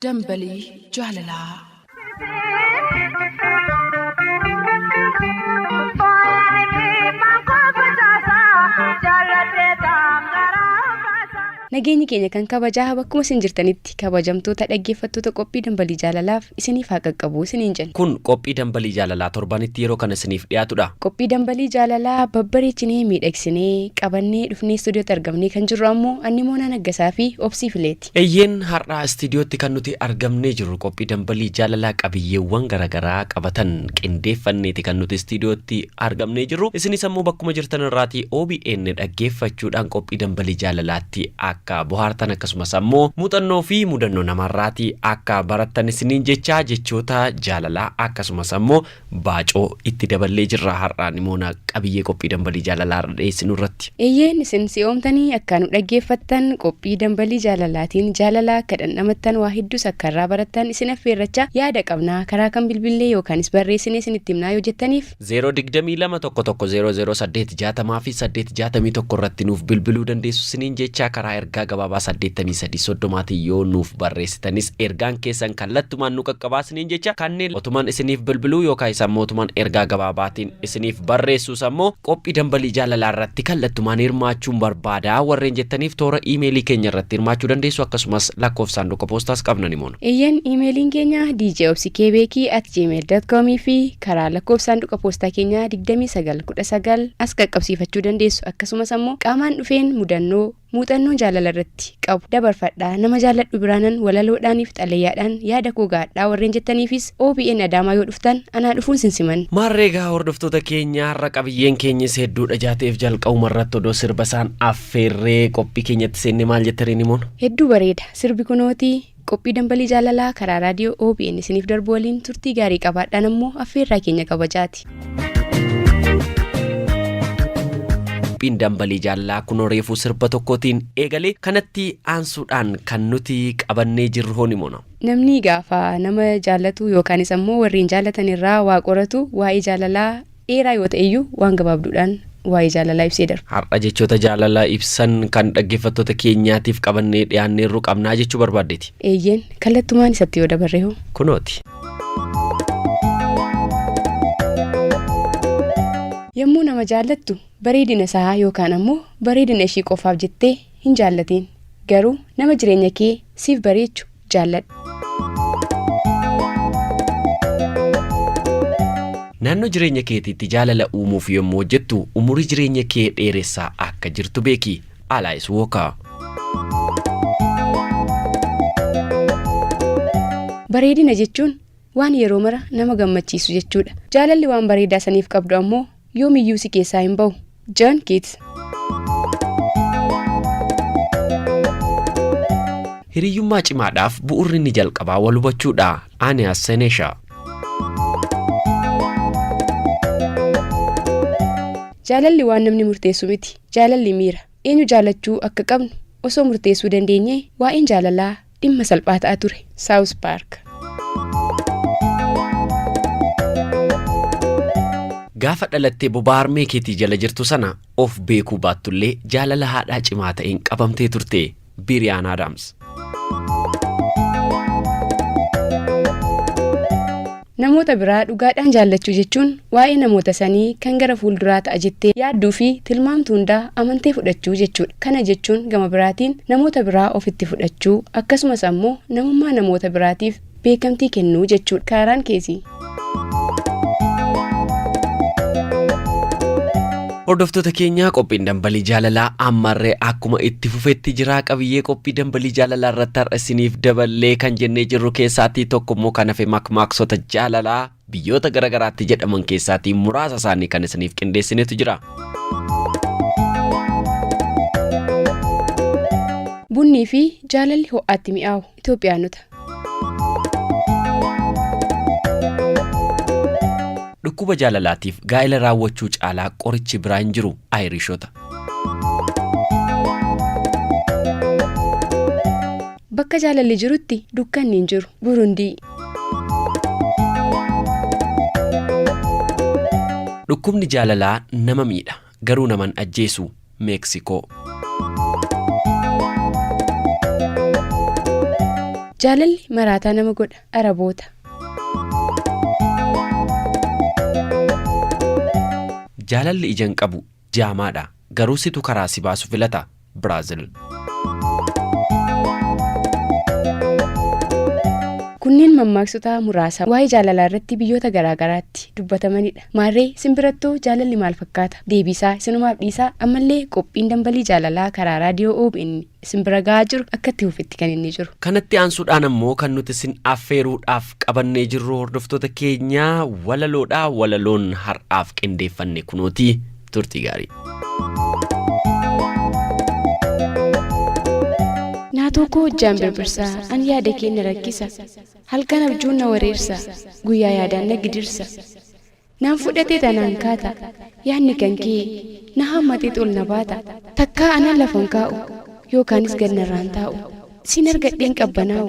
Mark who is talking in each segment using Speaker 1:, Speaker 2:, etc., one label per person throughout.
Speaker 1: Dambalii
Speaker 2: Jaalalaa. Nageenyi keenya kan kabajaa bakkuma isin jirtanitti kabajamtoota dhaggeeffattoota qophii dambalii jaalalaaf isiniif haa qaqqabu isiniin jenna. Kun qophii dambalii
Speaker 3: jaalalaa torbanitti yeroo kana isiniif dhiyaatudha. Qophii dambalii
Speaker 2: jaalalaa babbareechinee miidhagsinee qabannee dhufnee istuudiyootti argamnee kan jirru ammoo Annimoonaa Naggasaa fi Obsii Fileeti. Eyyeen har'a
Speaker 3: istiidiyootti kan nuti argamnee jirru qophii dambalii jaalalaa qabiyyeewwan garagaraa qabatan qindeeffanneeti kan nuti istiidiyootti argamnee jirru. Isinis ammoo bakkuma jirtan irraatii obn dhaggeeffachuudhaan qophii dambalii jaalalaatti akka bohaartan akkasumas ammoo muuxannoo fi mudannoo namarraatii akka barattan isiniin jechaa jechoota jaalalaa akkasumas ammoo Baacoo itti daballee jirra har'aa nimoona qabiyyee qophii dambalii jaalalaa har'a dhiyeessinu irratti. Eeyyeen isin si'oomtanii
Speaker 2: akkaa nu dhaggeeffattan qophii dambalii jaalalaatiin jaalala akka dhandhamattan waa hedduus akka irraa barattan isin affeerrachaa yaada qabnaa karaa kam bilbillee yookaanis barreessinee isinitti himnaa yoo jettaniif. 0 22 11
Speaker 3: 00 8 60 fi 8 61 irratti nuuf bilbiluu dandeessu isiniin jechaa karaa ergaa gabaabaa 83 30 tiin yoo nuuf barreessitan tanis ergaan keessan kallattumaan nu qaqqabaa isiniin jecha kanneen otuman isiniif bilbiluu yookaa isa ammoo otuman ergaa gabaabaatiin isiniif barreessuu isa ammoo qophii dambalii jaalalaa irratti kallattumaan hirmaachuun barbaada warreen jettaniif toora iimeelii keenya irratti hirmaachuu dandeessu akkasumas lakkoofsa saanduqa poostaas qabna ni moona. Eeyyan iimeeliin
Speaker 2: keenya djobsikebeekii at gmail.com fi karaa lakkoofsa saanduqa poostaa keenyaa 2919 as qaqqabsiifachuu dandeessu akkasumas ammoo qaamaan dhufeen mudannoo muuxannoo jaalala irratti qabu dabarfadhaa nama jaalladhu biraanan walaloodhaanif xalayaadhaan yaada koo gahadhaa warreen jettaniifis obn adaamaa yoo dhuftan anaa dhufuun sin siman. Maarree egaa hordoftoota
Speaker 3: keenya har'a qabiyyeen keenyis hedduudha ijaa ta'eef jalqabuma irratti odoo sirba isaan affeerree qophii keenyatti seenne maal jetta Reenimoon? Hedduu bareeda sirbi
Speaker 2: kunootii. Qophii Dambalii Jaalalaa karaa Raadiyoo OBN isiniif darbu waliin turtii gaarii qabaadhaan ammoo affeerraa keenya kabajaati. Qophiin Dambalii Jaalalaa kunoo reefuu sirba tokkootiin eegalee kanatti aansuudhaan kan nuti qabannee jirru hoo ni mona. Namni gaafa nama jaallatu yookaanis ammoo warreen jaallatan irraa waa qoratu waa'ee jaalalaa dheeraa yoo ta'e iyyuu waan gabaabduudhaan waa'ee jaalalaa ibsee darba. Har'a jechoota jaalala
Speaker 3: ibsan kan dhaggeeffattoota keenyaatiif qabannee dhiyaanneerru qabnaa jechuu barbaaddeeti? Eeyyeen, kallattumaan
Speaker 2: isatti yoo dabarre hoo? Kunooti. Yommuu nama jaallattu bareedina isaa yookaan ammoo bareedina ishii qofaaf jettee hin jaallatiin. Garuu nama jireenya kee siif bareechu jaalladhu.
Speaker 3: Naannoo jireenya keetiitti jaalala uumuuf yommuu hojjettu umurii jireenya kee dheeressaa akka jirtu beeki. Alaayis Wookaa.
Speaker 2: Bareedina jechuun waan yeroo mara nama gammachiisu jechuudha. Jaalalli waan bareedaa saniif qabdu ammoo yoomiyyuu si keessaa hin bahu. Jan Kids.
Speaker 3: Hiriyyummaa cimaadhaaf bu'urri inni jalqabaa wal hubachuudha. Aaniyaas Senesha.
Speaker 2: Jaalalli waan namni murteessu miti. Jaalalli miira. Eenyu jaalachuu akka qabnu osoo murteessuu dandeenyee waa'een jaalalaa Dhimma salphaa ta'a ture. South Park.
Speaker 3: Gaafa dhalattee bobaa harmee keetii jala jirtu sana of beekuu baattullee jaalala haadhaa cimaa ta'een qabamtee turte. Biriyaan Adams.
Speaker 2: Namoota biraa dhugaadhaan jaallachuu jechuun waa'ee namoota sanii kan gara fuulduraa ta'a jettee yaadduu fi tilmaamtu hundaa amantee fudhachuu jechuudha. Kana jechuun gama biraatiin namoota biraa ofitti fudhachuu, akkasumas ammoo namummaa namoota biraatiif beekamtii kennuu jechuudha. Kaaraan Keesii.
Speaker 3: Hordoftoota keenya qophiin dambalii jaalalaa ammarree akkuma itti fufetti jira qabiyyee qophii dambalii jaalalaa irratti har'a isiniif daballee kan jennee jirru keessaatii tokko immoo kan hafe makmaaksota jaalalaa biyyoota garaagaraatti jedhaman keessaatii muraasa isaanii kan isiniif qindeessinetu jira.
Speaker 2: Bunnii fi jaalalli ho'aatti mi'aawu. Itoophiyaanota.
Speaker 3: Dhukkuba jaalalaatiif gaa'ela raawwachuu caalaa qorichi biraa hin jiru. Ayirishota.
Speaker 2: Bakka jaalalli jirutti dukkanni hin jiru. Burundii.
Speaker 3: Dhukkubni jaalalaa nama miidha. Garuu nama hin ajjeesu. Meeksikoo.
Speaker 4: Jaalalli maraataa nama godha. Araboota.
Speaker 3: Jaalalli ija hin qabu. Jaamaadha. Garuu situ karaa si baasu filata. Biraazil.
Speaker 4: Kunneen mammaaksota muraasa waa'ee jaalalaa irratti biyyoota garaa garaatti dubbatamanidha. Maarree simbirattuu jaalalli maal fakkaata? Deebiisaa isinumaaf dhiisaa ammallee qophiin dambalii jaalalaa karaa raadiyoo OBN simbira ga'aa jiru akka itti fufetti kan inni jiru. Kanatti aansuudhaan ammoo
Speaker 3: kan nuti isin affeeruudhaaf qabannee jirru hordoftoota keenyaa walaloodha. Walaloon har'aaf qindeeffanne kunooti. turtii gaarii.
Speaker 4: Naatoo koo hojjaan birbirsa an yaada kee na rakkisa halkan abjuun na wareersa guyyaa yaadaan na gidirsa naan fudhatee tanaan kaata yaadni kan kee na hammatee tol na baata takkaa anan lafan kaa'u yookaanis gad narraan taa'u siin argadheen qabbanaa'u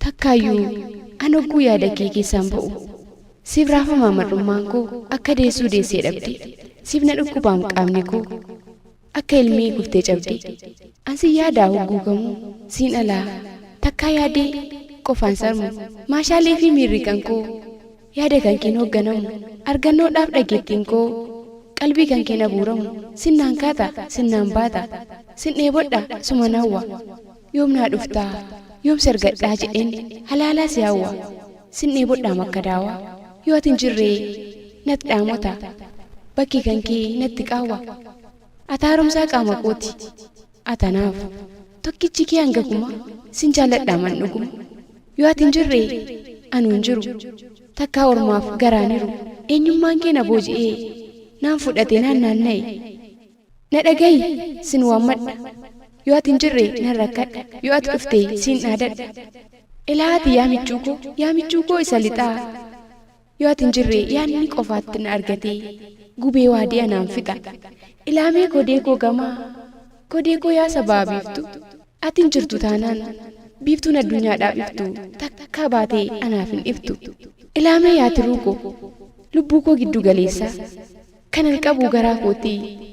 Speaker 4: Takkaayyuu an hogguu yaada kee keessaan ba'u siif raafamaa mar'ummaan koo akka deessuu deessee dhabde siif na dhukkubaam qaamni koo akka ilmii guftee cabde an si yaadaa hogguu kamuu siin alaa takkaa yaadee qofaan sarmu maashaalee fi miirri kan koo yaada kan keen hogganamu argannoodhaaf dhageettiin koo qalbii kan keen abuuramu sinnaan kaata sinnaan baata sin dheebodha suman hawwa Yoom naa dhuftaa? Yoom si argadhaa jedheen halaalaa si hawwa. Sin dheebodhaam akka daawaa. Yoo ati hin jirree nat dhaamota. Bakki kan kee natti qaawwa. Ati haaromsaa qaama kooti. Ati anaaf tokkichi kee hanga kumaa. Sin jaalladhaam an dhuguma. Yoo ati hin jirree anuu hin jiru. Takkaa ormaaf garaan hiru. Eenyummaan kee na booji'ee. Naan fudhatee naan naanna'e. Na dhagayi, sin waammadha. Yoo ati hin jirre nan rakkadha. Yoo ati dhufte siin dhaadadha. Ilaa ati yaa michuu koo, yaa michuu koo isa lixaa. Yoo ati hin jirre yaadni qofaatti na argatee. Gubee waadiya naan fixa. Ilaa mee kodee koo gamaa. Kodee koo yaa sabaa biiftu. Ati hin jirtu taanaan biiftuun addunyaadhaaf iftu takkaa baatee anaaf hin iftu. Ilaa mee yaa tiruu koo. Lubbuu koo giddu galeessaa. Kanan qabu garaa kooti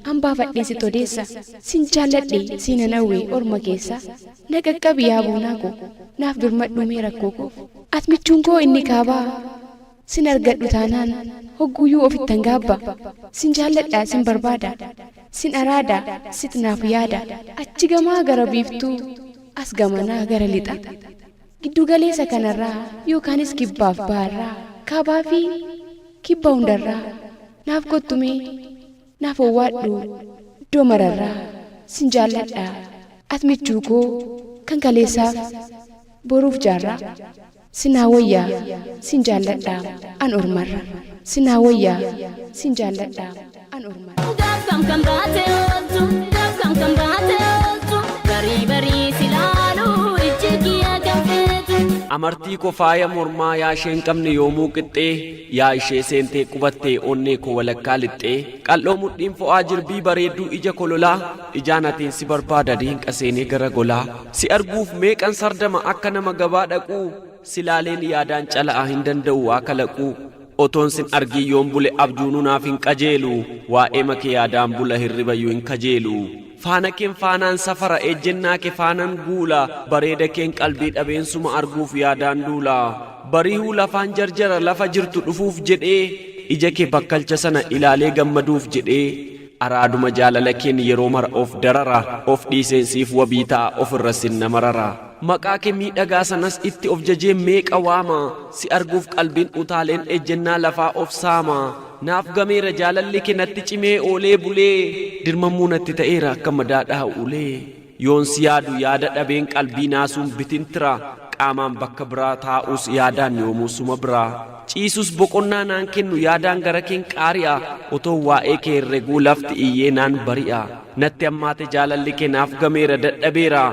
Speaker 4: An baafadhee sit odeessa Sin jaalladhe siinan hawwe orma keessa Na qaqqabi yaa boonaa koo Naaf birmadhu mee rakkoo koof At michuun koo inni kaabaa Sin argadhu taanaan Hogguuyuu ofittan gaabba Sin jaalladha sin barbaada Sin araada sit naaf yaada Achi gamaa gara biiftuu As gamanaa gara lixa. Giddugaleesa kanarraa yookaanis kibbaaf baharraa, kaabaa fi kibba hundarraa naaf kottu mee naaf owwaadhu iddoo mararraa sin jaalladha at michuu koo kan kaleessaaf boruuf jaarraa sin haa woyya sin jaalladha an ormarra sin haa woyya sin jaalladha. an ormadha. Gaaf kam kan baate ooltu gaaf kam kan baate ooltu barii barii si laalu ijji kiyya kan feetu. Amartii ko
Speaker 3: faaya mormaa yaa isheen qabne yoomuu qixxee yaa ishee seentee qubattee onnee ko walakkaa lixxee qal'oo mudhiin fo'aa jirbii bareedduu ija kololaa ijaan atiin si barbaada diinqa seenee gara golaa si arguuf meeqan sardama akka nama gabaa dhaquu si laaleen yaadaan cala'a hin danda'u waa kalaquu Otoon sin argiin yoon bule abjuunuu naaf hin qajeelu Waa'eema kee yaadaan bula hirribayyu hin kajeelu Faana keen faanaan safara ejjennaa ke faanan guula Bareeda keen qalbii dhabeen suma arguuf yaadaan duula Barihuu lafaan jarjara lafa jirtu dhufuuf jedhee Ija ke bakkalcha sana ilaalee gammaduuf jedhee Araaduma jaalala keen yeroo mara of darara Of dhiiseen siif wabii ta'a ofirra sin na marara Maqaa kee miidhagaa sanas itti of jajeen meeqa waama Si arguuf qalbiin utaaleen ejjennaa lafaa of saama Naaf gameera jaalalli kee natti cimee oolee bulee Dirmamuu natti ta'eera akka madaa dhaha ulee. Yoon si yaadu yaada dhabeen qalbii naasuun bitintira Qaamaan bakka biraa taa'uus yaadaan yoomuu suma biraa Ciisus boqonnaa naan kennu yaadaan garakeen qaari'a Otoon waa'ee kee herreguu lafti iyyee naan bari'a Natti hammaate jaalalli kee naaf gameera dadhabeera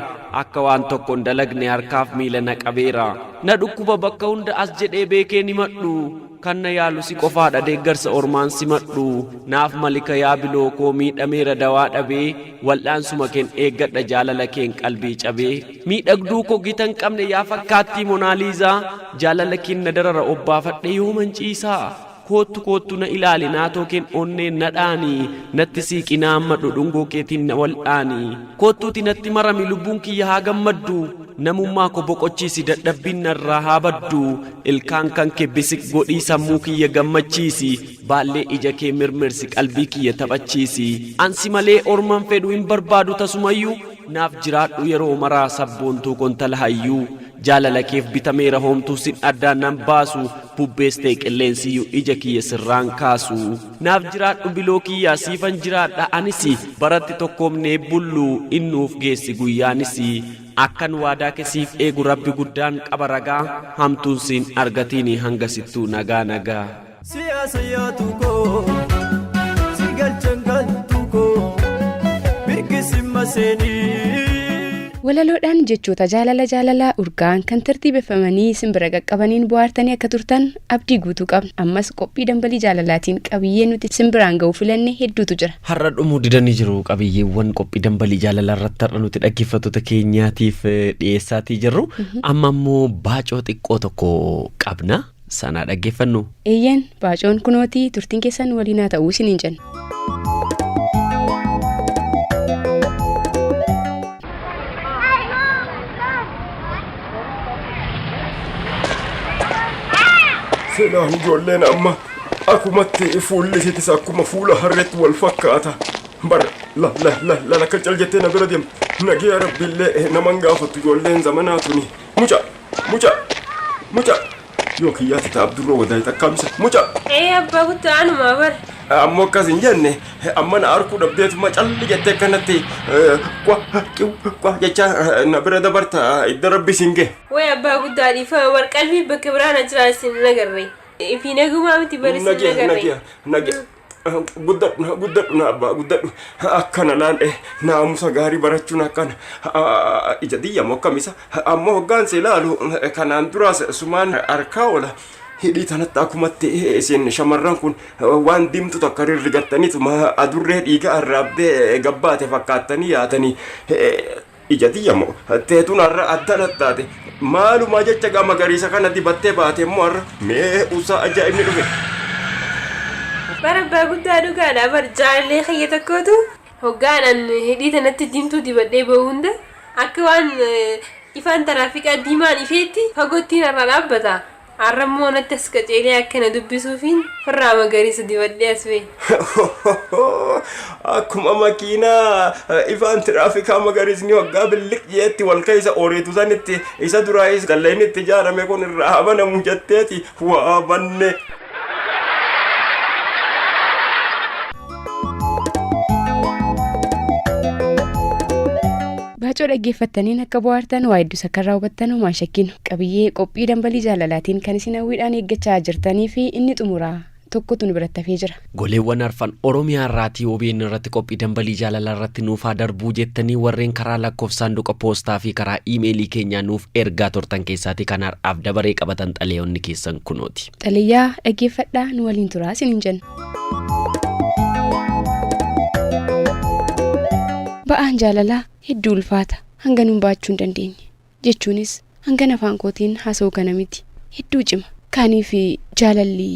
Speaker 3: Akka waan tokko hin dalagne harkaaf miila na qabeera Na dhukkuba bakka hunda as jedhee beekeen himadhu Kan na yaalu si qofaadha deeggarsa ormaan simadhu naaf malika yaa biloo koo miidhameera dawaa dhabee wal'aansuma keen eeggadha jaalala keen qalbii cabee miidhagduu koo gitan qabne yaa fakkaattii monaaliizaa jaalala keen na darara obbaafadhe yooman ciisaa koottu koottu na ilaali naatoo keen onneen na dhaani natti siiqi na hammadhu dhungoo keetiin na wal'aani koottuuti natti marami lubbuun kiyya haa gammaddu Namummaa ko boqochiisi dadhabbiin narraa haa baddu ilkaan kan kee bisiq godhii sammuu kiyya gammachiisi baallee ija kee mirmirsi qalbii kiyya taphachiisi an si malee orman fedhu hin barbaadu tasumayyuu naaf jiraadhu yeroo maraa sabboontuu ko intala hayyuu jaalala keef bitameera hoomtuu sin addaa nan baasu bubbees ta'e qilleensiyyuu ija kiyya sirraan kaasu. Naaf jiraadhu biloo kiyyaa siifan jiraadha anisi baratti tokkoomnee bullu in nuuf geessi guyyaanisi akkan waadaake siif eegu rabbi guddaan qaba ragaa hamtuun siin argatiini hangasittuu nagaa nagaa. Siyaasa
Speaker 5: yaatu koo si galchan galtu koo mirgi sin maseenii. Walaloodhaan
Speaker 4: jechoota jaalala jaalalaa urgaa'an kan tartiibeffamanii isin bira qaqqabaniin bohaartanii akka turtan Abdii guutuu qabna. Ammas qophii dambalii jaalalaatiin qabiyyee nuti sin biraan ga'uu filanne hedduutu jira. Har'a dhumuu didanii
Speaker 3: jiru qabiyyeewwan qophii dambalii jaalalaa irratti har'a nuti dhaggeeffattoota keenyaatiif eh, dhiyeessaatii jirru. Amma immoo baacoo xiqqoo tokko qabna. Sanaa dhaggeeffannu. Eeyyeen baacoon
Speaker 4: kunootii turtiin keessan waliinaa ta'uu isiniin jenna.
Speaker 6: Seenaan ijoolleen amma akumatti fuulli isiitis akkuma fuula harreetti wal fakkaata. Bar la la la la la kan cal jettee na bira deemte. Nagiyaa rabbiillee naman gaafattu ijoolleen zamanaa tuni. Muca muca muca. Yoo kiyyaa tata abdurroo wadaay takkaamsa muca. Ee abbaa guttu
Speaker 7: anumaa bar. Ammoo akkas hin
Speaker 6: jenne amma na arkuu dhabdeetuma calli jettee akkanatti kwa qiw kwa jechaa na bira dabarta idda rabbi siin ge. Way abbaa guddaa
Speaker 7: dhiifama bar qalbii bakka biraa na jiraa isin hin agarre. Fi nagumaa miti bar isin hin Nagiya agarre. nagiya nagiya
Speaker 6: guddadhu guddadhu na abbaa guddadhu akkana laal eh naamusa gaarii barachuun akkana Ah, ija diyyamu akkamisa ammoo hoggaan si ilaalu eh, kanaan duraas sumaan harkaa oola hidhii tanatti akkumatti eh, isin shamarran kun eh, waan diimtu takka rirrigattaniituma adurree dhiiga arraabbee gabbaate fakkaattanii yaatanii eh, Ija tiyya moo teetun har'a adda nattaate maalumaa jecha gaa magariisa kana dibattee baate immoo har'a mee usaa ajaa'ibni dhufe. Bara
Speaker 7: abbaa guddaa dhugaadha bar jaalallee kiyya tokkootu hoggaanan hidhii tanatti diimtuu dibadhee ba'u hunda akka waan ifaan taraafiqaa diimaan ifeetti fagottiin irraa dhaabbata. Har'a immoo anatti as qaceelee akka na dubbisuufiin farraa magariisa dibadhee as ba'e.
Speaker 6: Akkuma makiinaa ifaan tiraafikaa magariisni hoggaa billiq jeetti wal keessa ooriitu sanitti isa duraayis dallayni itti ijaarame kun irraa haa banamu jetteeti waa banne.
Speaker 4: Baacoo dhaggeeffattaniin akka bohaartan waa hedduu sakkarraa hubattan homaa hin shakkiin qabiyyee qophii dambalii jaalalaatiin kan isin hawwiidhaan eeggachaa jirtanii fi inni xumuraa tokkotu nu biratti hafee jira. Goleewwan arfan
Speaker 3: Oromiyaa irraatii OBN irratti qophii dambalii jaalalaa irratti nuuf haa darbuu jettanii warreen karaa lakkoofsa saanduqa poostaa fi karaa iimeelii keenyaa nuuf ergaa turtan keessaatii kan har'aaf dabaree qabatan xalayoonni keessan kunooti. Xalayaa
Speaker 4: dhaggeeffadhaa nu waliin turaa isiniin jenna. Ba'aan jaalalaa hedduu ulfaata. Hanganuun ba'achuu hin dandeenye. Jechuunis hangan afaan kootiin haasa'u kana miti. Hedduu cima. Kaaniif jaalalli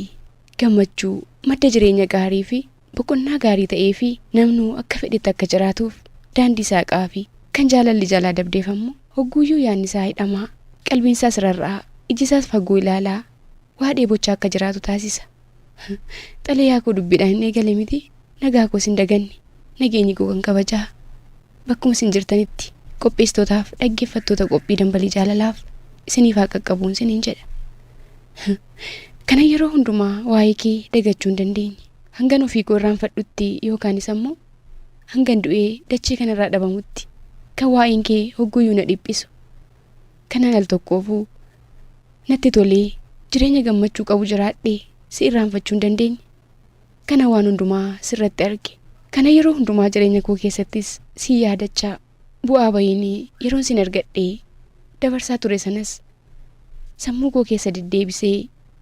Speaker 4: gammachuu madda jireenya gaarii fi boqonnaa gaarii ta'ee fi namnuu akka fedhetti akka jiraatuuf daandii saaqaa fi kan jaalalli jalaa dabdeef ammoo hogguuyyuu yaanni isaa hidhamaa qalbiin isaas rarra'aa iji isaas fagoo ilaalaa waa dheebocha akka jiraatu taasisa. Xalayaa koo dubbiidhaan eegale miti, nagaa koos hin daganne. Nageenyi koo kan kabajaa. Bakkuma isin jirtanitti qopheessitootaaf dhaggeeffattoota qophii dambalii jaalalaaf isiniif haa qaqqabuun siniin jedha. Kana yeroo hundumaa waa'ee kee dagachuu hin dandeenye. Hangan ofii koo irraanfadhutti yookaanis ammoo hangan du'ee dachee kanarraa dhabamutti kan waa'een kee hogguyyuu na dhiphisu. Kanan al tokkoofuu natti tolee jireenya gammachuu qabu jiraadhe si irraanfachuu hin dandeenye. Kana waan hundumaa sirratti arge. Kana yeroo hundumaa jireenya koo keessattis si yaadachaa bu'aa bayiin yeroon sin argadhee dabarsaa ture sanas sammuu koo keessa deddeebisee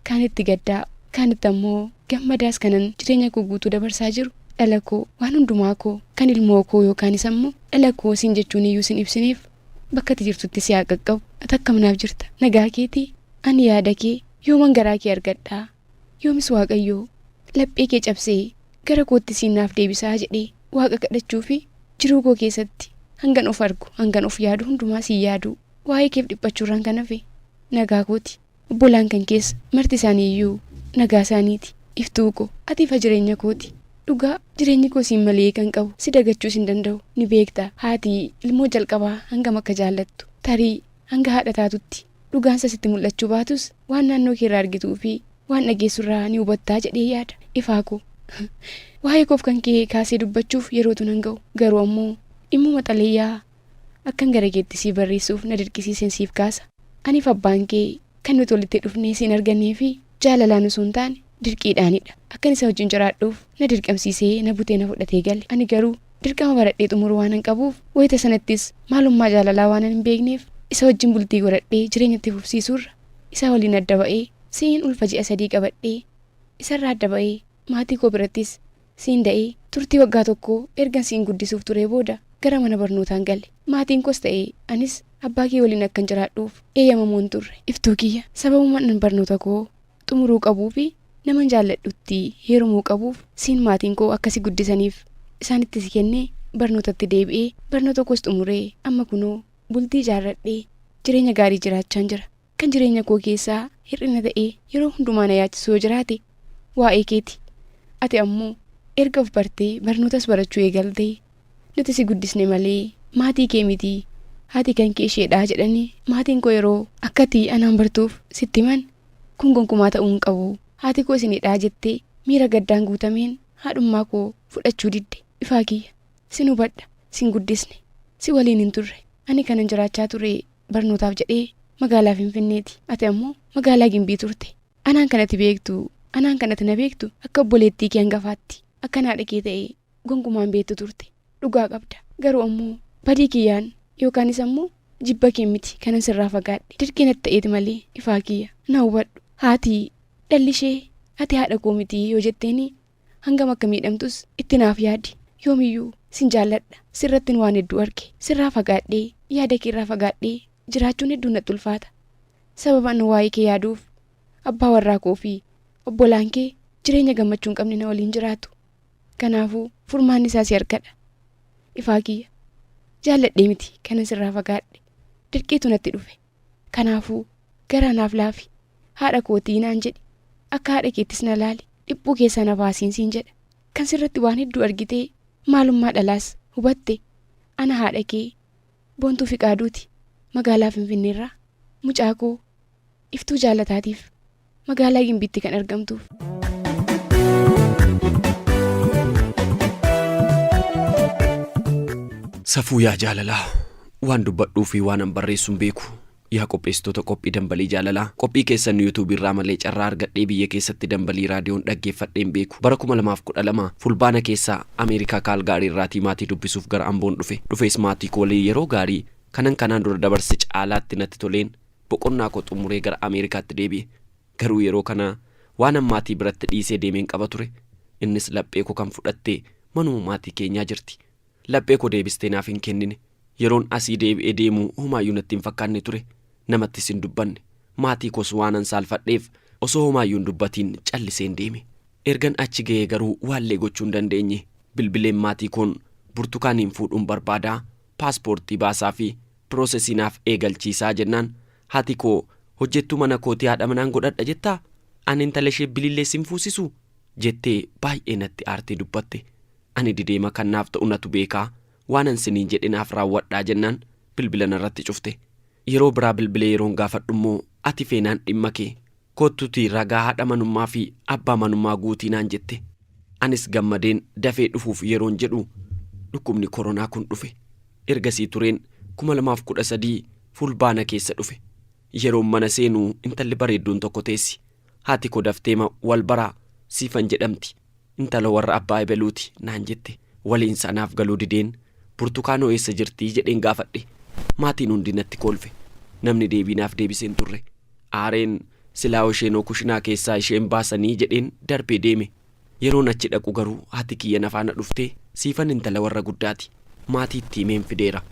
Speaker 4: kaan itti gaddaa kaan itti ammoo gammadaas kanan jireenya koo guutuu dabarsaa jiru dhala koo waan hundumaa koo kan ilmoo koo yookaanis ammoo dhala koo sin jechuun iyyuu sin ibsineef Bakka ati jirtutti si haa qaqqabu. Ati akkam naaf jirta? Nagaa keetii? Ani yaada kee yooman garaa kee argadha? Yoomis Waaqayyo laphee kee cabsee gara kootti siin naaf deebisaa jedhee Waaqa kadhachuu fi jiruu koo keessatti hangan of argu, hangan of yaadu hundumaa siin yaaduu, waa'ee keef dhiphachuurraan kan hafe nagaa kooti. Obbolaan kan kees marti isaanii iyyuu nagaa isaanii ti. Iftuu ko, ati ifa jireenya koo ti. Dhugaa, jireenyi koo siin malee hiika hin qabu. Si dagachuus hin danda'u. Ni beekta, haati ilmoo jalqabaa hangam akka jaallattu. Tarii, hanga haadha taatutti, dhugaan isaa sitti mul'achuu baatus, waan naannoo kee irraa argituu fi waan dhageessu irraa ni hubatta jedhee yaada. Ifaa ko, waa'ee koof kan kee kaasee dubbachuuf yerootu nan ga'u. Garuu ammoo, dhimmuma xalayaa Akkan gara keetti sii barreessuuf na dirqisiiseen siif kaasa. Aniif abbaan kee kan nuti walitti dhufnee siin arganneefi jaalalaan osoo hin taane dirqiidhaanidha. Akkan isa wajjin jiraadhuuf na dirqamsiisee na butee na fudhatee gale. Ani garuu dirqama baradhee xumuruu waanan qabuuf wayita sanattis maalummaa jaalalaa waanan hin beekneef isa wajjin bultii godhadhee jireenya itti fufsiisuurra isaa waliin adda ba'ee si'in ulfa ji'a sadii qabadhee isarraa adda ba'ee maatii koo birattis Siin da'ee turtii waggaa tokkoo ergan siin guddisuuf turee booda gara mana barnootaan gale. Maatiinkoos ta'e anis abbaakee waliin akkan jiraadhuuf eeyyamamoo hin turre. Iftuu kiyya, sababuman barnootakoo xumuruu qabuufi naman jaalladhutti heerumuu qabuuf siin maatiinkoo akka si guddisaniif isaanitti si kennee barnootatti deebi'ee barnootakoos xumuree amma kunoo bultii ijaarradhee jireenya gaarii jiraachaan jira. Kan jireenya koo keessaa hir'ina ta'ee yeroo hundumaa na yaachisu yoo jiraate waa'ee keeti. Ati ammoo erga of bartee barnootas barachuu eegalte. Nuti si guddisne malee maatii kee miti. Haati kan kee isheedha jedhanii maatiin koo yeroo akka ati anaan bartuuf sitti himan kun gonkumaa ta'uu hin qabu. Haati koo isinidha jettee miira gaddaan guutameen haadhummaa koo fudhachuu didde. Ifaa kiyya. Sin hubadha. Sin guddisne. Si waliin hin turre. Ani kanan jiraachaa ture barnootaaf jedhee magaalaa Finfinneeti. Ati ammoo magaalaa Gimbii turte. Anaan kan ati beektu, anaan kan ati na beektu akka obboleettii kee hangafaatti. Akkan haadha kee ta'e gonkumaa hin beektu turte. Dhugaa qabda. Garuu ammoo badii kiyyaan yookaanis ammoo jibba kee miti kanan sirraa fagaadhe. Dirqii natti ta'eeti malee ifaa kiyya. Na hubadhu. Haati dhalli ishee ati haadha koo miti yoo jetteeni Hangam akka miidhamtus itti naaf yaadi. Yoomiyyuu sin jaalladha. Sirrattin waan hedduu arge. Sirraa fagaadhee, yaada kee irraa fagaadhee jiraachuun hedduu natti ulfaata. Sababa an waa'ee kee yaaduuf abbaa warraa koo fi obbolaan kee jireenya gammachuu hin qabne na waliin jiraatu. Kanaafuu furmaanni isaa si harkadha. Ifaa kiyya. Jaalladhee miti kanan sirraa fagaadhe. Dirqiitu natti dhufe. Kanaafuu, Garaa naaf laafi, haadha koo ti'i naan jedhi, akka haadha keettis na laali, dhiphuu keessaa na baasiin siin jedha. Kan sirratti waan hedduu argitee, maalummaa dhalaas hubatte. Ana haadha kee Boontuu Fiqaaduuti, magaalaa Finfinneerraa. Mucaa koo Iftuu Jaalataatiif Magaalaa Gimbiitti kan argamtuuf.
Speaker 3: Safuu yaa jaalalaa waan dubbadhuu fi waan an barreessuun beeku yaa qopheessitoota qophii dambalii jaalalaa qophii keessan yuutuubii irraa malee carraa argadhee biyya keessatti dambalii raadiyoon dhaggeeffadheen beeku bara 2012 fulbaana keessaa ameerikaa kaalgaarii irraatii maatii dubbisuuf gara amboon dhufe dhufees maatii koo waliin yeroo gaarii kanan kanaan dura dabarse caalaatti natti toleen Boqonnaa koo xumuree gara Ameerikaatti deebi'e. Garuu yeroo kana waanan maatii biratti dhiisee deemeen qaba ture. Innis laphee koo kan fudhatte manuma maatii keenyaa jirti. Laphee koo deebistee naaf hin kennine. Yeroon asii deebi'ee deemu homaayyuu natti hin fakkaanne ture. Namattis hin dubbanne. Maatii koos waanan saalfadheef osoo homaayyuu hin dubbatiin calliseen deeme. Ergan achi ga'ee garuu waallee gochuu hin dandeenye. Bilbileen maatii koon Burtukaaniin fuudhuun barbaada, paaspoortii baasaafii, Process naaf eegalchiisaa jennaan hati koo hojjettuu mana kootii haadha manaan godhadha jettaa? Ani intala ishee bilillee sin fuusisu? jettee baay'ee natti aartee dubbatte. Ani dideema kan naaf ta'u natu beeka. Waanan siniin jedhe naaf raawwadhaa jennaan bilbila narratti cufte. Yeroo biraa bilbilee yeroon gaafadhummoo ati feenaan dhimma kee. Kottuutii ragaa haadha manummaa fi abbaa manummaa guutii naan jette. Anis gammadeen dafee dhufuuf yeroon jedhu dhukkubni koronaa kun dhufe. Ergasii tureen 2013 Fulbaana keessa dhufe. Yeroon mana seenu intalli bareedduun tokko teessi. Haati koo dafteema wal baraa Siifan jedhamti. Intalo warra abbaa ebeluuti naan jette waliinsaa naaf galuu dideen Burtukaanoo eessa jirti jedheen gaafadhe. Maatiin hundi natti koolfe. Namni deebii naaf deebise hin turre. Aareen Silaawoo isheenoo kushinaa keessaa ishee hin baasanii jedheen darbee deeme. Yeroon achi dhaqu garuu haati kiyya na faana dhuftee siifan intala warra guddaati. Maatii itti himeen fideera.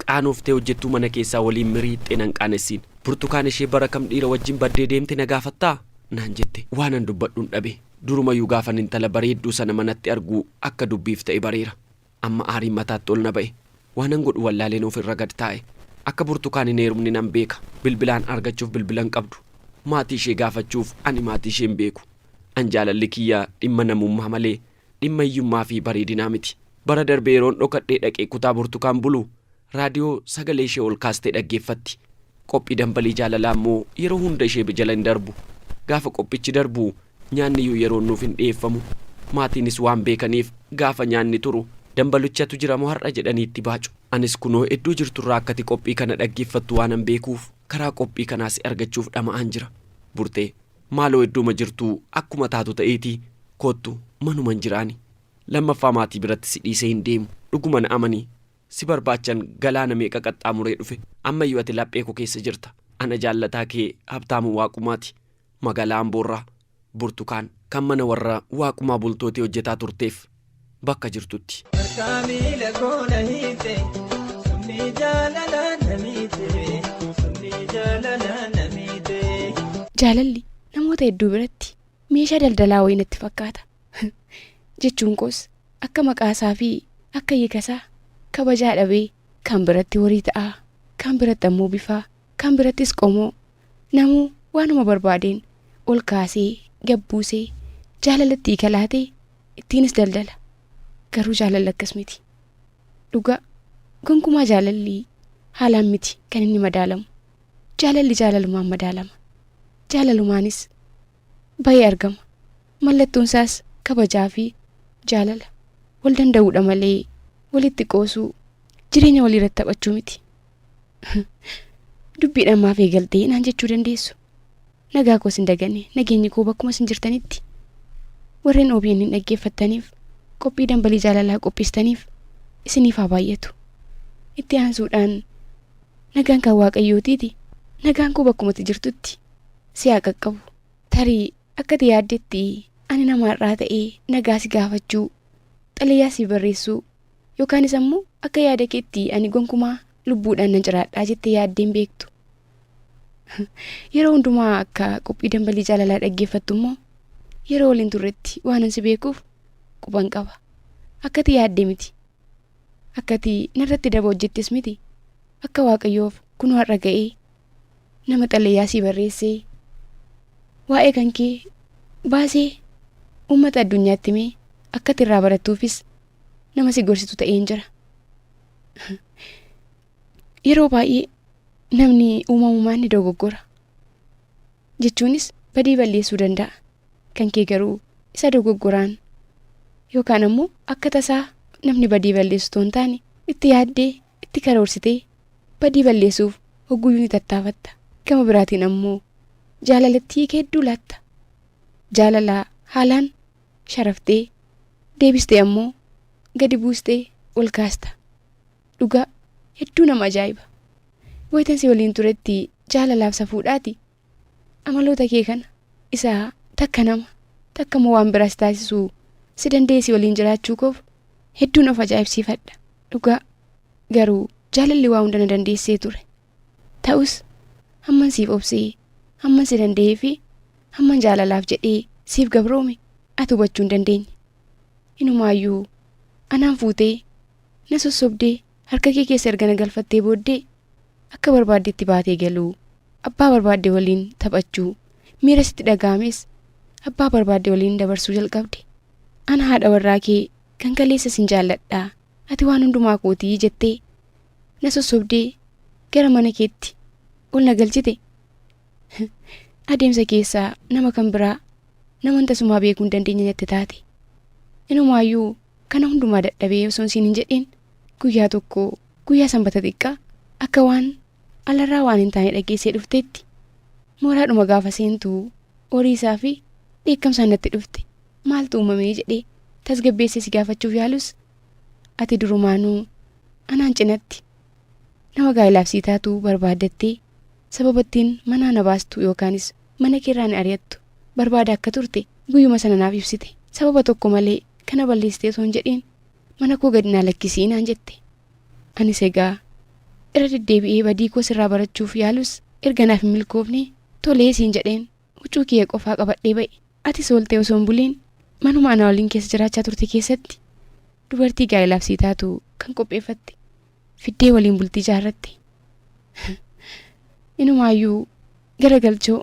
Speaker 3: Qaanoftee hojjettuu mana keessaa waliin miriixxee nan qaanessiin. Burtukaan ishee bara kam dhiira wajjin baddee deemte na gaafattaa? naan jette. Waanan dubbadhun dhabe. Durumayyuu gaafan intala bareedduu sana manatti argu akka dubbiif ta'e bareera. Amma aariin mataatti ol na ba'e. Waanan godhu wallaaleen of irra gad taa'e. Akka Burtukaan hin heerumne nan beeka. Bilbilaan argachuuf bilbila hin qabdu. Maatii ishee gaafachuuf ani maatii ishee hin beeku. An jaalalli kiyya dhimma namummaa malee dhimma hiyyummaa fi bareedinaa miti. Bara darbe yeroon dhokadhee dhaqee kutaa Burtukaan bulu Raadiyoo sagalee ishee ol kaastee dhaggeeffatti. Qophii Dambalii Jaalalaa immoo yeroo hunda ishee jala hin darbu. Gaafa qophichi darbu nyaanniyyuu yeroon nuuf hin dhiyeeffamu. Maatiinis waan beekaniif gaafa nyaanni turu Dambaluchatu jira moo har'a jedhanii itti baacu. Anis kunoo iddoo jirturraa akka ati qophii kana dhaggeeffattu waanan beekuuf karaa qophii kanaa si argachuuf dhama'aan jira. Burtee, Maaloo iddooma jirtuu akkuma taatu ta'iitii koottu manuman jira ani. Lammaffaa maatii biratti si dhiisee hin deemu. Dhuguma na amani. Si barbaachan galaana meeqa qaxxaamuree dhufe, ammayyu ati laphee koo keessa jirta. Ana jaallataa kee Habtaamuu Waaqumaati. Magaalaa Amboorraa. Burtukaan, kan mana warra Waaqumaa Bultootii hojjetaa turteef. Bakka jirtutti. Harkaa miila koo na hiite, summii jaalalaa na miite,
Speaker 4: summii jaalalaa na miite. Jaalalli namoota hedduu biratti meeshaa daldalaa wayii natti fakkaata. jechuun koos akka maqaa isaa fi akka hiika isaa kabajaa dhabee kaan biratti horii ta'aa, kaan biratti ammoo bifaa, kaan birattis qomoo, namuu waanuma barbaadeen ol kaasee gad buusee jaalala itti hiika laatee ittiinis daldala. Garuu jaalalli akkas miti. Dhugaa gonkumaa jaalalli haalaan miti kan inni madaalamu. Jaalalli jaalalumaan madaalama. Jaalalumaanis bayee argama. Mallattoon isaas kabajaa fi jaalala, wal danda'uu dha malee walitti qoosuu, jireenya walii irratti taphachuu miti. Dubbiidhaan maaf eegaltee naan jechuu dandeessu. Nagaa koos hin dagane, nageenyi koo bakkuma isin jirtanitti. Warreen OBN hin dhaggeeffattaniif, qophii dambalii jaalalaa qopheessitaniif isiniif haa baay'atu. Itti aansuudhaan nagaan kan Waaqayyootiiti, nagaan koo bakkumatti jirtutti si haa qaqqabu. Tarii akka ati yaaddetti ani nama har'aa ta'ee nagaa si gaafachuu, xalayaa siif barreessuu yookaanis ammoo akka yaada keetti ani gonkumaa lubbuudhaan nan jiraadhaa jettee yaaddee hin beektu. Yeroo hundumaa akka qophii dambalii jaalalaa dhaggeeffattu immoo yeroo waliin turretti waanan si beekuuf quban qaba. Akka ati yaadde miti. Akka ati narratti daba hojjettes miti. Akka Waaqayyoof kunoo har'a ga'ee nama xalayaa sii barreessee waa'ee kan kee baasee uummata addunyaatti himee akka irraa barattuufis nama si gorsitu ta'een jira. Yeroo baay'ee namni uumamumaan ni dogoggora. Jechuunis badii balleessuu danda'a. Kan kee garuu isa dogoggoraan yookaan ammoo akka tasaa namni badii balleessu otoo hin taane itti yaaddee itti karoorsitee badii balleessuuf hogguyyuu ni tattaafatta. Gama biraatiin ammoo jaalalatti hiika hedduu laatta. Jaalala haalaan sharaftee, deebistee ammoo gadi buustee ol kaasta. Dhugaa hedduu nama ajaa'iba. Wayitan si waliin turetti jaalalaaf safuudhaati Amaloota kee kana isa takka nama takka immoo waan biraa si taasisuu si danda'ee si waliin jiraachuu koof hedduun of ajaa'ibsiifadha. Dhugaa garuu jaalalli waa hunda na dandeessee ture. Ta'us hamman siif obsee, hamman si danda'ee fi hamman jaalalaaf jedhee siif gabroome ati hubachuu hin dandeenye. Inumaayyuu anaan fuutee na sossobdee harka kee keessa erga na galfattee booddee Akka barbaaddetti baatee galuu, abbaa barbaadde waliin taphachuu, miira sitti dhaga'ames abbaa barbaadde waliin dabarsuu jalqabde. Ana haadha warraa kee kan kaleessa sin jaalladha, ati waan hundumaa kooti jettee na sossobdee gara mana keetti ol na galchite. Adeemsa keessa nama kan biraa naman tasumaa beekuu hin dandeenye natti taate. Inumaayyuu kana hundumaa dadhabee osoon siin hin jedhiin Guyyaa tokko guyyaa sanbata xiqqaa akka waan alarraa waan hin taane dhageessee dhufteetti mooraadhuma gaafa seentu horii isaa fi dheekkamsaan natti dhufte maaltu uumamee jedhee tasgabbeessee si gaafachuuf yaalus ati durumaanuu anaan cinatti nama gaa'ilaaf sii taatu barbaaddattee sababattiin manaa na baastu yookaanis mana keerraa na ari'attu barbaada akka turte guyyuma sana naaf ibsite sababa tokko malee kana balleessitee osoo hin jedhiin Mana koo gad naa lakkisi naan jette. Anis egaa irra deddeebi'ee badii koo sirraa barachuuf yaalus erga naaf hin milkoofne tolee siin jedheen huccuu kiyya qofaa qabadhee ba'e. Atis ooltee osoo hin buliin manuma anaa waliin keessa jiraachaa turte keessatti dubartii gaa'elaaf sii taatu kan qopheeffatte fiddee waliin bultii jaarratti inumaayyuu gara galchoo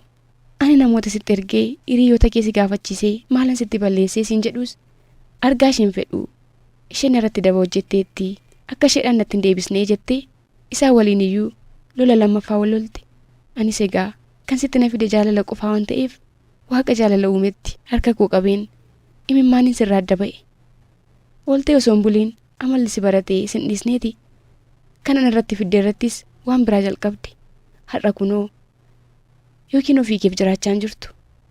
Speaker 4: ani namoota sitti ergee hiriyoota kee si gaafachiisee maalan sitti balleessee siin jedhuus argaa isheen fedhuu isheen irratti daba hojjetteetti akka isheedhaan natti hin deebisnee jettee isaa waliin iyyuu lola lammaffaa wal lolte anis egaa kan sitti na fide jaalala qofaa waan ta'eef waaqa jaalala uumetti harka koo qabeen imimmaaniin sirraa adda ba'e ooltee osoo hin buliin Amalli si barate sin dhiisneeti. Kan ana irratti fidde irrattis waan biraa jalqabde. Har'a kunoo yookiin ofii keef jiraachaa hin jirtu.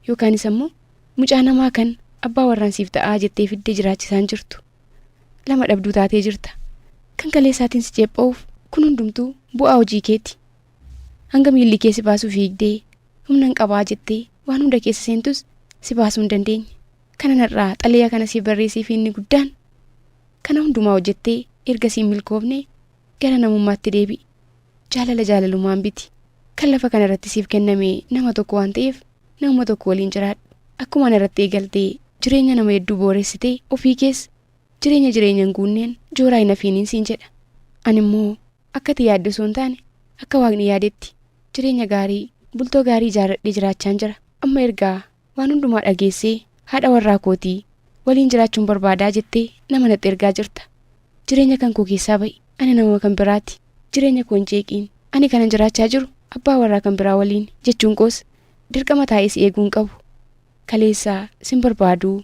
Speaker 4: Yookaanis ammoo mucaa namaa kan abbaa warraan siif ta'aa jettee fidde jiraachisaa hin jirtu. Lama dhabduu taatee jirta. Kan kaleessaatiin si ceepha'uuf kun hundumtuu bu'aa hojii keeti. Hanga miilli kee si baasu fiigdee humnan qabaa jettee waan hunda keessa seentus si baasuu hin dandeenye. Kanan har'aa xalayaa kana siif barreesseef inni guddaan kana hundumaa hojjettee erga siin milkoofne gara namummaatti deebi'i. Jaalala jaalalumaan biti. Kan lafa kana irratti siif kenname nama tokko waan ta'eef namuma tokko waliin jiraadhu. Akkuma ana irratti eegalte jireenya nama hedduu booressite ofii kees jireenya jireenya hin guunneen jooraa hin hafiiniin siin jedha. Ani immoo akka ati yaadde osoo hin taane akka Waaqni yaadetti jireenya gaarii bultoo gaarii ijaarradhee jiraachaan jira. Amma erga Waan hundumaa dhageessee haadha warraa kootii waliin jiraachuun barbaadaa jettee nama natti ergaa jirta. Jireenya kan koo keessaa ba'i. Ani namuma kan biraati. Jireenya koo hin jeeqiin. Ani kanan jiraachaa jiru abbaa warraa kan biraa waliini jechuun koos dirqama taa'ee si eeguu hin qabu. Kaleessa sin barbaaduu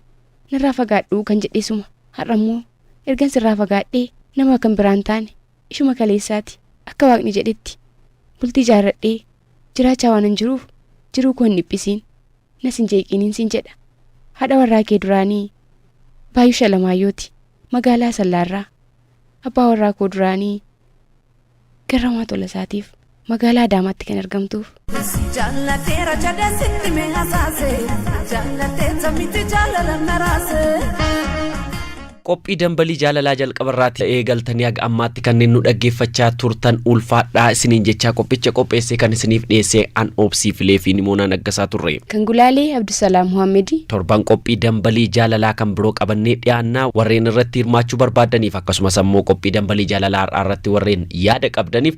Speaker 4: narraa fagaadhuu kan jedhe suma har'ammoo ergan sirraa fagaadhee nama kan biraa hin taane ishuma kaleessaati. Akka Waaqni jedhetti bultii ijaarradhee jiraachaa waanan jiruuf jiruu koo hin dhiphisiin, nas hin jeeqiiniin siin jedha. Haadha warraa kee duraanii Baayush Alamaayyooti. Magaalaa Asallaarraa. Abbaa warraa koo duraanii Garramaa Tolasaatiif Magaalaa Adaamaatti kan argamtuuf. Jaallatee
Speaker 8: rajadeen sitti mee hasaase jaallatee sammitti jaalala naraase.
Speaker 3: Qophii dambalii jaalalaa jalqaba irraati eegaltanii haga ammaatti kanneen nu dhaggeeffachaa turtan ulfaadhaa isiniin jechaa qophicha qopheessee kan isiniif dhiyeessee an obsii filee fi nimoonaa naggasaa turre. Kan gulaalee
Speaker 4: Abdusalaam Muhammedi. Torban qophii
Speaker 3: dambalii jaalalaa kan biroo qabannee dhiyaannaa warreen irratti hirmaachuu barbaadaniif akkasumas ammoo qophii dambalii jaalalaa har'aa irratti warreen yaada qabdaniif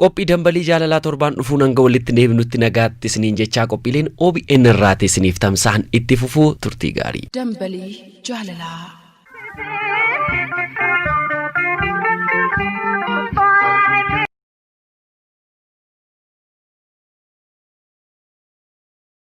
Speaker 4: Qophii Dambalii Jaalalaa
Speaker 3: torbaan dhufuu hanga walitti deebinutti nagaatti isiniin jechaa qophiileen OBN irraati isiniif tamsa'an itti fufuu
Speaker 1: turtii
Speaker 3: gaarii. Dambalii Jaalalaa.